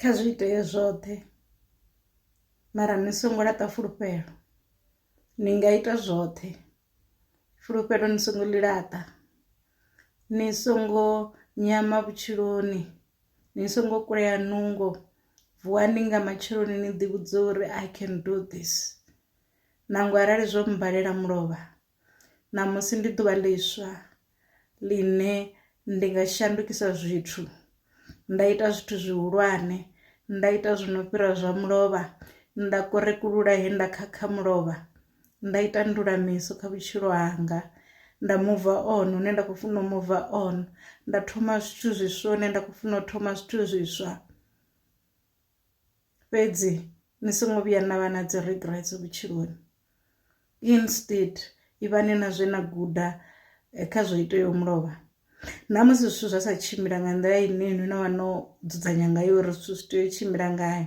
kha zwi itea zwoṱhe mara ni songo laṱa fulufhelo ni nga ita zwoṱhe fulufhelo ni songo ḽi laṱa ni songo nyama vhutshiloni ni songo kulea nungo vuwani nga matsheloni ni ḓi vhudza uri I can do this nangwe arali zwo mmbalela mulovha Ṋamusi ndi ḓuvha ḽiswa ḽine ndi nga shandukisa zwithu nda ita zwithu zwihulwane nda ita zwi no fhira zwa mulovha nda korekulula he nda khakha mulovha nda ita ndulamiso kha vhutshilo hanga nda muva on hune nda kho funa u muva on nda thoma zwithu zwiswa hune nda kho funa u thoma zwithu zwiswa. fhedzi ni songo vhuya na vha na dzi regrets vhutshiloni instead ivhani na zwe na guda eh, kha zwo iteyo mulovha na musi zwithu zwa sa tshimbila nga nḓila ine ni no vha no dzudzanya ngayo uri zwithu zwi tea u tshimbila ngayo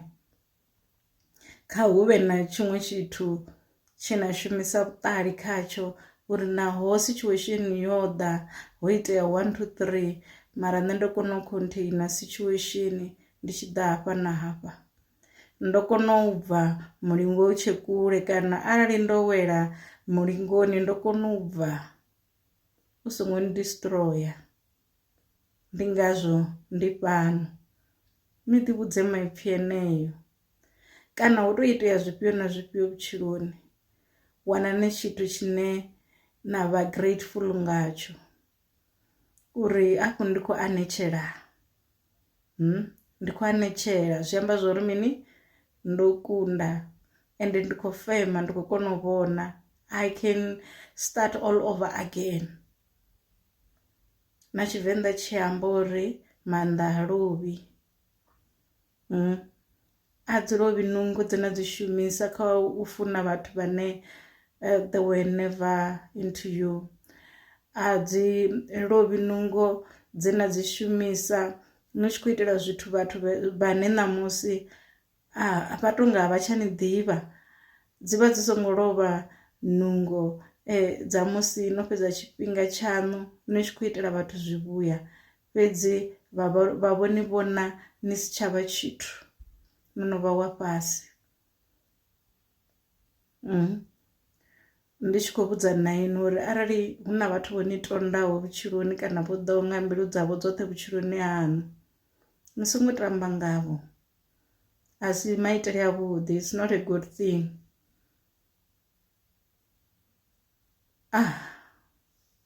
kha hu vhe na tshiṅwe tshithu tshe na shumisa vhuṱali khatsho uri naho situation yo ḓa ho itea 1 2 3 mara nṋe ndo kona u containa situation ndi tshi ḓa hafha na hafha ndo kona u bva mulingo u tshe kule kana arali ndo wela mulingoni ndo kona u bva u songo ni destroyer ndi ngazwo ndi fhano ni ḓi vhudze maipfhi eneo kana hu to itea zwifhio na zwifhio vhutshiloni wana ni tshithu tshine na vha grateful ngatsho uri afho ndi khou anetshela. ndi khou anetshela zwi amba zwori mini ndo kunda ende ndi khou fema ndi khou kona u vhona I can start all over again. Na tshivenḓa tshi amba uri maanḓa ha lovhi . ha dzi lovhi nungo dze na dzi shumisa kha u funa vhathu vhane they were never into you a dzi lovhi nungo dze na dzi shumisa ni tshi khou itela zwithu vhathu vhane ṋamusi a vha to nga vha tsha ni ḓivha dzi vha dzi songo lovha nungo dza musi no fhedza tshifhinga tshaṋu ni tshi khou itela vhathu zwivhuya. Fhedzi vha vho ni vhona ni si tsha vha tshithu, no no vha wa fhasi. Ndi tshi khou vhudza na inwi uri arali hu na vhathu vho ni tondaho vhutshiloni kana vho ḓaho nga mbilu dzavho dzoṱhe vhutshiloni haṋu, ni songo tamba ngavho. A si maitele a vhuḓi, it's not a good thing.